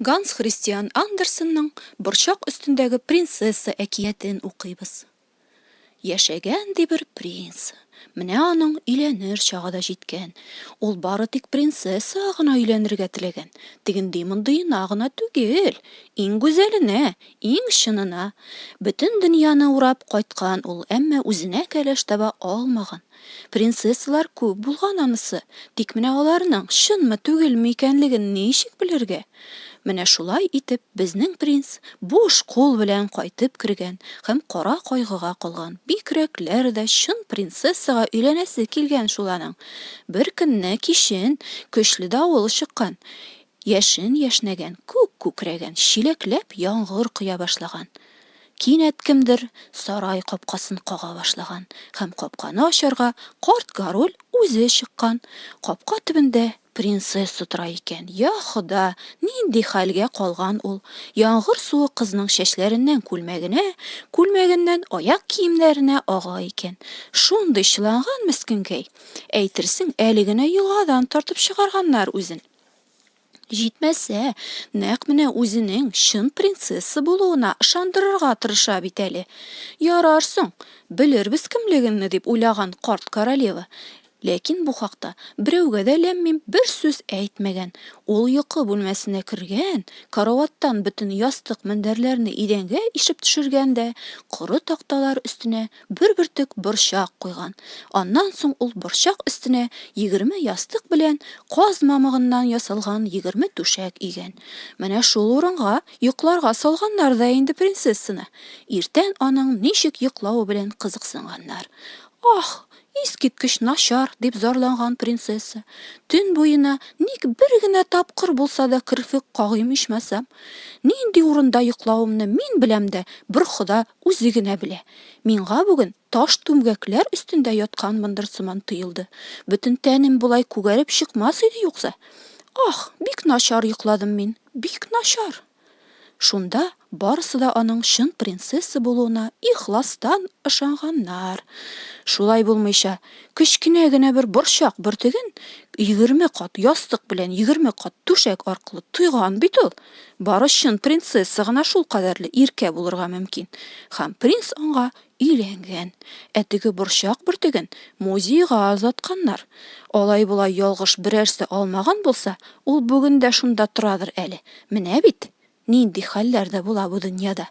Ганс Христиан Андерсенның Борчак өстендәге принцесса әкиятен укыйбыз. Яшәгән ди бер принц. Менә аның өйләнер чагы да җиткән. Ул бары тик принцесса гына өйләнергә теләгән. Тегендый-мондыена гына түгел, иң гүзәленә, иң чынына. Бөтен дөньяны урап кайткан ул, әмма үзенә кәләш таба алмаган. Принцессалар күп булган анысы, тик менә аларның чынмы, түгелме икәнлеген ничек белергә? Менә шулай итеп безнең принц буш кул белән кайтып кергән һәм кара кайгыга калган. Бигрәкләр дә чын принцессага өйләнәсе килгән шул аның. Беркөнне кичен көчле давыл чыккан, яшен яшьнәгән, күк күкрәгән, чиләкләп яңгыр коя башлаган. Кинәт кемдер сарай капкасын кага башлаган һәм капканы ачарга карт Гороль үзе чыккан. Капка төбендә принцесса тора икән. Йа Хода, нинди хәлгә калган ул! Яңгыр суы кызның чәчләреннән күлмәгенә, күлмәгеннән аяк киемнәренә ага икән. Шундый чыланган мескенкәй! Әйтерсең, әле генә елгадан тартып чыгарганнар үзен. Җитмәсә, нәкъ менә үзенең чын принцесса булуына ышандырырга тырыша бит әле. Ярар соң, белербез кемлегемне, дип уйлаган карт королева. Ләкин бу хакта берәүгә дә ләм-мим бер сүз әйтмәгән. Ул йокы бүлмәсенә кергән, караваттан бөтен ястык-мендәрләрне идәнгә ишеп төшергән дә коры такталар өстенә бер бөртек борчак куйган. Аннан соң ул борчак өстенә егерме ястык белән каз мамыгыннан ясалган егерме түшәк игән. Менә шул урынга йокларга салганнар да инде принцессаны. Иртән аның ничек йоклавы белән кызыксынганнар. Аһ, искиткеч начар, дип зарланган принцесса. Төн буена ник бер генә тапкыр булса да керфек кагыйм ичмасам? Нинди урында йоклавымны мин беләм дә, бер Хода Үзе генә белә. Миңа бүген таш түмгәкләр өстендә ятканмындыр сыман тоелды. Бөтен тәнем болай күгәреп чыкмас иде юкса. Ах, бик начар йокладым мин, бик начар! Шунда барысы да аның чын принцесса булуына ихластан ышанганнар. Шулай булмыйча, кечкенә генә бер борчак бөртеген егерме кат ястык белән егерме кат түшәк аркылы тойган бит ул! Бары чын принцесса гына шулкадәрле иркә булырга мөмкин. Һәм принц аңа өйләнгән. Ә теге борчак бөртеген музейга озатканнар. Алай-болай ялгыш берәрсе алмаган булса, ул бүген дә шунда торадыр әле. Менә бит, нинди хәлләр дә була бу дөньяда.